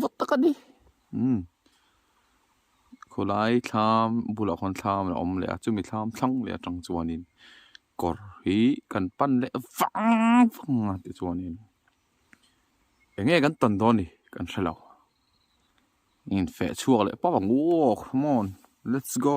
vawt tak a ni. Umm. Khawlai thlam bulah khawn thlam a awm leh a, chumi thlam thlang leh atang chuanin kawr hi kan pan leh vang vang a ti chuanin eng nge kan tawn dawn ni kan hre lo. Infeh chhuak leh pawh ang u aw come on let's go.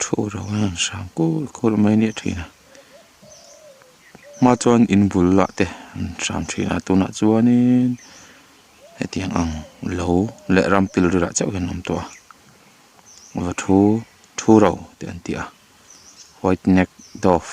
thu rang a rawn sang kûl kûl mai leh ṭhin a hma chuan in bul lah te an hrâm ṭhin a tûnah chuanin hetiang ang lo leh rampil rilah chauh hian an awm tawh a va thu thu ro tih an ti a white neck dove.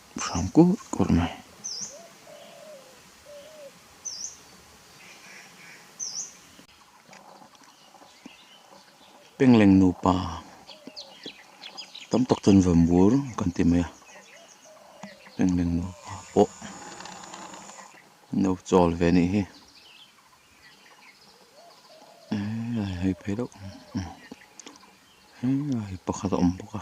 hrang kawr kawr mai. Pengleng nupa tam tak chuan vawmbur kan ti mai a, Pengleng nupa pawh no chawl ve anih hi eeii a la hei phei deuh emm eeii a la hei pakhat a awm bawk a.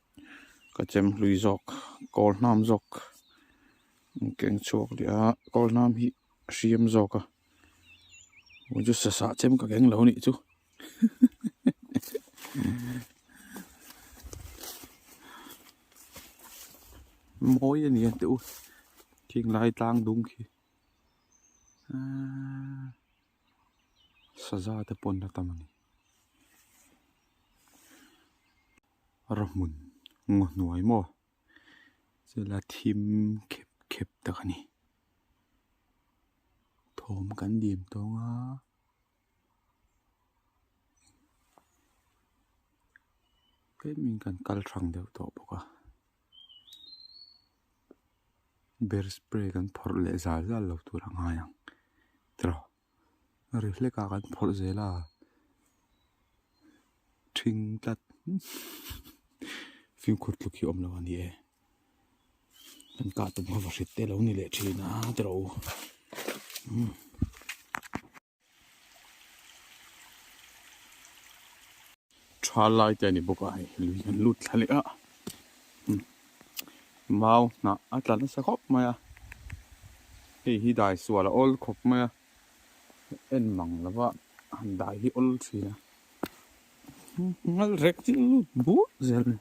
ka chem hlui zawk kawl hnam zawk in keng chhuak leh a kawl hnam hi a hriam zawk a muh chu sasah chem ka keng lo anih chu mawi a ni ang teh u khing lai tlang dum khi aaa saza te pawn la tam a ni. Ro hmun ngaw hnuai maw? Chulai thim khep khep tak a ni. Thawm kan dîm tawng a. Tlêmin kan kal hrang deuh tawh bawk a. Ber spray kan phawrh leh zâl zâl lo tûr a ngai ang. Tawh. ri hlekah kan phawrh zel a ṭhing tlat fimkhur tluk hi a awm lo a ni e kan kah tum ho va hrilh te lo a ni leh ṭhin a te r'o umm. Tha lai te a ni bawk a, hei lui kan lut thla leh a. Mau hnah a tla nasa khawp mai a. Hei hi dai sual a awl khawp mai a. En mang lo va, han dai hi awl thin a. Ngal rek chi a lut bur zel a ni.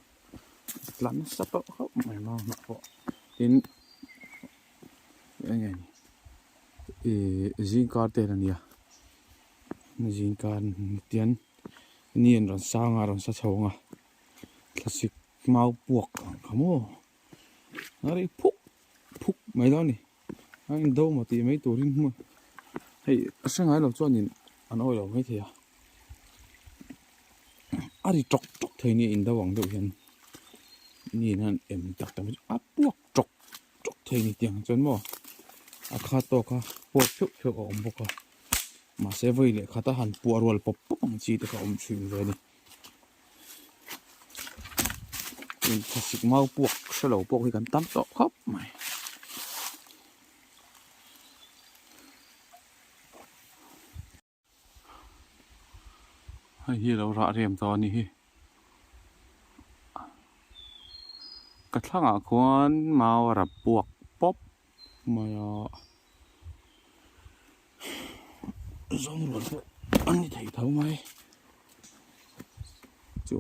A tla nasa tawh khawp mai a mau hnah pawh. Tin, enge ni, zingkar te a nia. Zingkar ni tian. Ni an rawn sang a, a rawn sa chho ang a, thlasik mau puak ang kha maw, a ri phuk phuk mai lo a ni, a indo maw tih mai turin hmun hei a hre ngai lo chuanin an awi lo mai thei a, a ri ṭawk ṭawk thei a nia indo ang deuh hian Ni in hian em tak ta mai a puak phuk. ṭawk ṭawk thei ni tih ang chuan maw a kha tawk a huat pheuh pheuh a awm bawk a mahse vawi leh khata han puah rual pawp pawp ang chi te kha awm thin ve a ni tin classic mau puak hre lo pawh hi kan tam tawh khawp mai Hei hi lo rah rem tawh a ni hi. Ka thlangah khuan mau a rap buak pawp mai a. Zawngrual pawh a ni thei tho mai. Chu,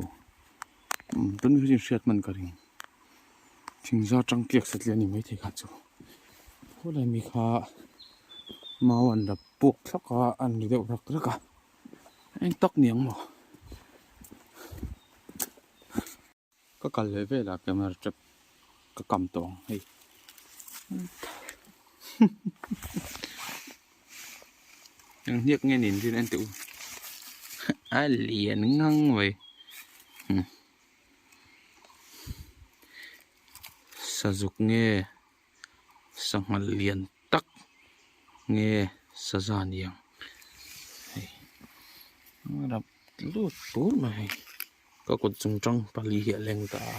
umm tunmiho chin hriat hman ka ring. Thingzar tangkiak satli a ni maithei kha chu khawlai mi kha mau an la puak thlak a an ni deuh rak rak a eng tak niang maw ka kal leh velah camera trap ka kam tawh ang hei eng hniak nge ni an rinawm a ni tih u a lian ngang mai. Sazuk nge sanghal lian tak nge saza niang hei a rak lut pût mai hei ka kut chung chang pali hi a leng ta a.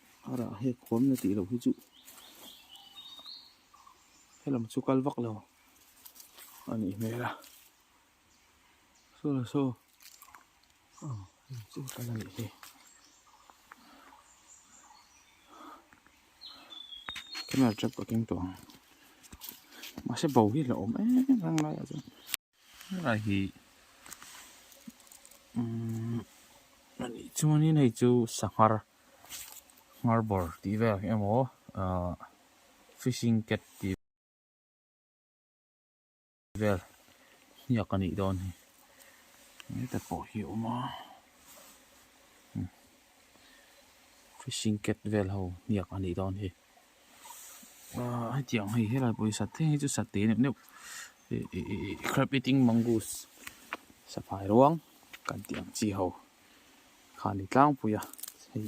Arah hei khuam la tih loh hi chu helam chu kal vak lo a nih hmel a. Saw la saw aw hei chu kal a nih hi. Camera trap ka keng tawh ang. Mahse bo hi la awm em em rang lai ah chuan. Helai hi umm anih chuanin hei chu sanghar ngar bawr tih vel ang emaw ahh fishing cat tih vel ngiak anih dawn ni eng te pawh hi a awm a umm fishing cat vel ho ngiak anih dawn hi. Aaa hetiang hei helai pawhin sateng hi chu sate neuh neuh ih ih ih ih crab eating mongoose safai ruang kan tih ang chi ho kha a ni tlangpui a hei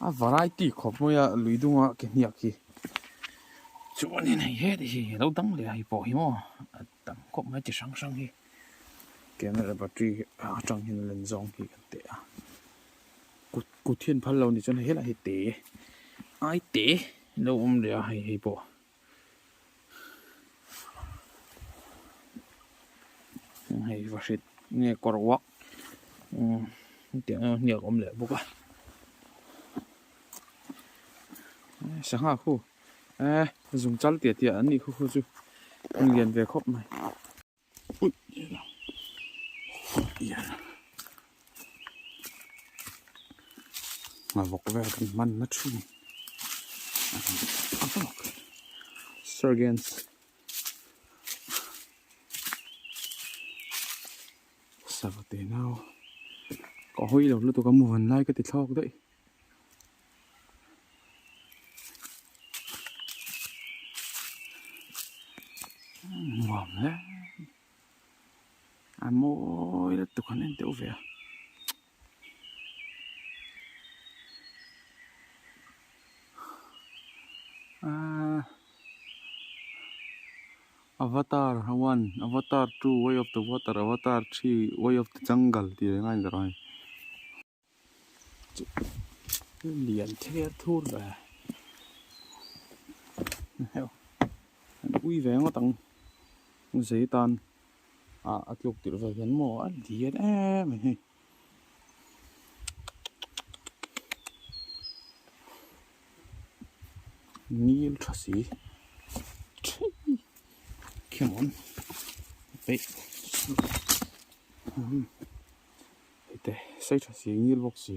a variety khawp mai a lui dunga ke hniak hi chuan in hei he ni hei a lo dang leh a hei pawh hi maw. Tam khawp mai chi hrang hrang hi camera battery atang hian a len zawng tih ka tih a kut kut hian phal lo ni chuan hei helaiah hi te ai te a lo awm leh a hei hi pawh heng hei va hrilh nge kawr uak umm tih ang hniak awm leh bawk a sangha khu. eh zung chal tia tia an nih khaw khaw chu an lian ve khawp mai ui ma vawk vel kan hman na thin sergeants sava te nau ka hawi lo lutuk a muvan lai ka ti thlawk daih. nuam hle a mawi lutuk han en deuh ve a. Avatar one avatar two way of the water avatar three way of the jungle tih leh ngai a ni tawh ang a ni. lian ther thur mai a ni hauh a ni ui ve ngawt ang zei tan ah a tluk tirh ve hian maw a lian em mai hi nil tha si thi khian awm peih. Hete sei tha si ngil bawk si.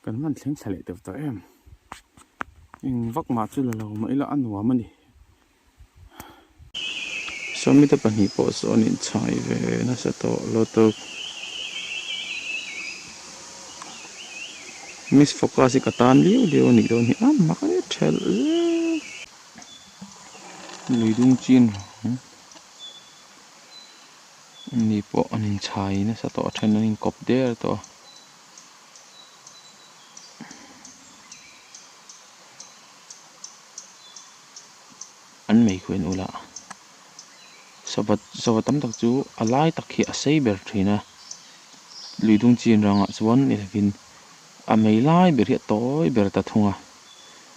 Kan hman thleng thla leh teuh ta em. Eng vak mah chu la lo mah ila a nuam a ni. Saw mi te pahnih pawh saw an in chai ve nasa tawh lotto miss focus hi ka tan liau liau a nih dawn hi a mak e thelh zeuh. Lui dung chin rawng. Ni pawh an inchhai nasa tawh a then an in kawp der tawh a. An meikhuain ula sawvat sawva tam tak chu a lai tak hi a sei ber thin a. Lui dung chin rangah chuan ni lovin a mei lai ber hi a tawi ber ta thung a.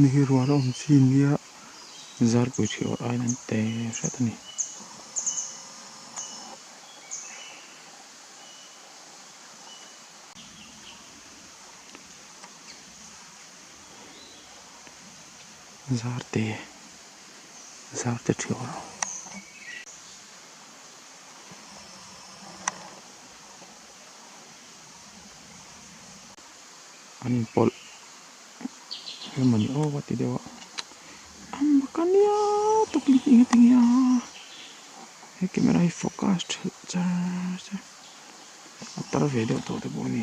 Ni hi rual awm chi nia zarpui ṭhi awrh aiin an te hret a ni. Zarte zarte ṭhi awrh ang. an in pawlh hle mawni aw a ti deuh a am bawk a nia tak in heng a ti nghe a he camera hi focus ṭheuh char char a tar ve deuh tawh te pawh a ni.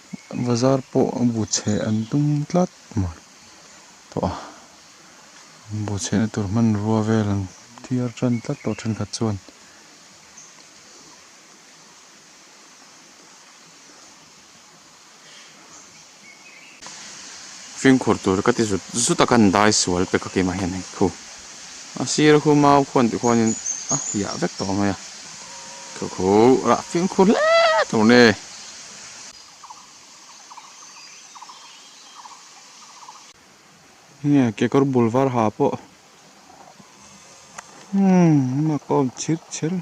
Bazar pawh a bu chheh an tum tlat mai tawh a, an bu chhehna tur hmanrua vel an thiar tan tlat tawh thenkhat chuan fingkhur tur ka ti zut zut a ka han dai sual pek a kema hian hei khu a sir a khu mau khuan tih khuanin a hiah vek tawh mai a, khu khu rah fingkhur hle tur ni. Nge kekawr bul var ha pawh umm a kawm chhilh chhilh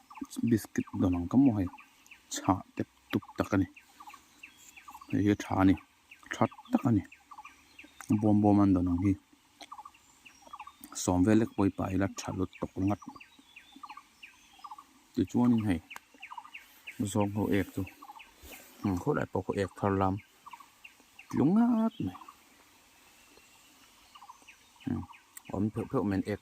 biscuit dawn ang ka mu hei chha tep tep tak a ni hei hi tha a ni tha tak a ni bawm bawm a ni dawn ang hi sawm vel lek pawh i pah ila tha lut tawk ringawt tichuanin hei zawng ho ek chu hmm khawlai pawh ka ek thar lam tlu ngat mai hmm awm pheuh pheuh mai an ek.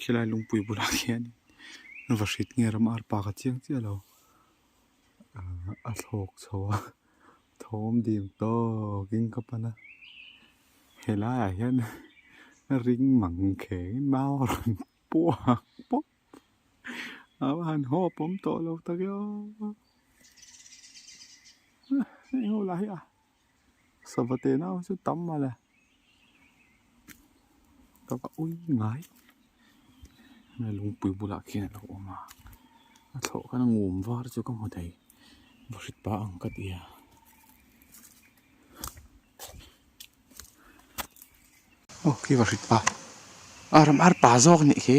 Khilai lungpui bulah khian in va hrit nge ram arpa ka chiang chiah lo. A thlawk chho a, thawm dîm tawkin ka pan a. He laiah hian ring mang khêngin mau a rawn puak pawp. Au a han haw a pawm tawh lo tak e aw. Eng ho lah hi a. Sava te nau chu tam a la sava ui ngai hemi a lungpui bulah khian a lo awm a a thlawh khan a ngum var chu ka hmu thei va hrit pa ang ka ti a. Aw khi va hrit pa a ram ar pa zawk a nih khi.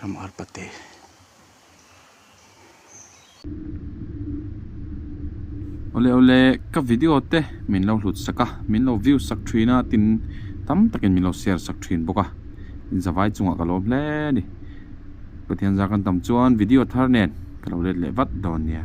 Ram arpa te. Ole ole ka video te min lo hlut sak a min lo view sak thin a tin tam takin min lo share sak thin bawk a in zavai chungah ka lawm hle a ni pathian zar kan tam chuan video thar nen ka lo let leh vat dawn nia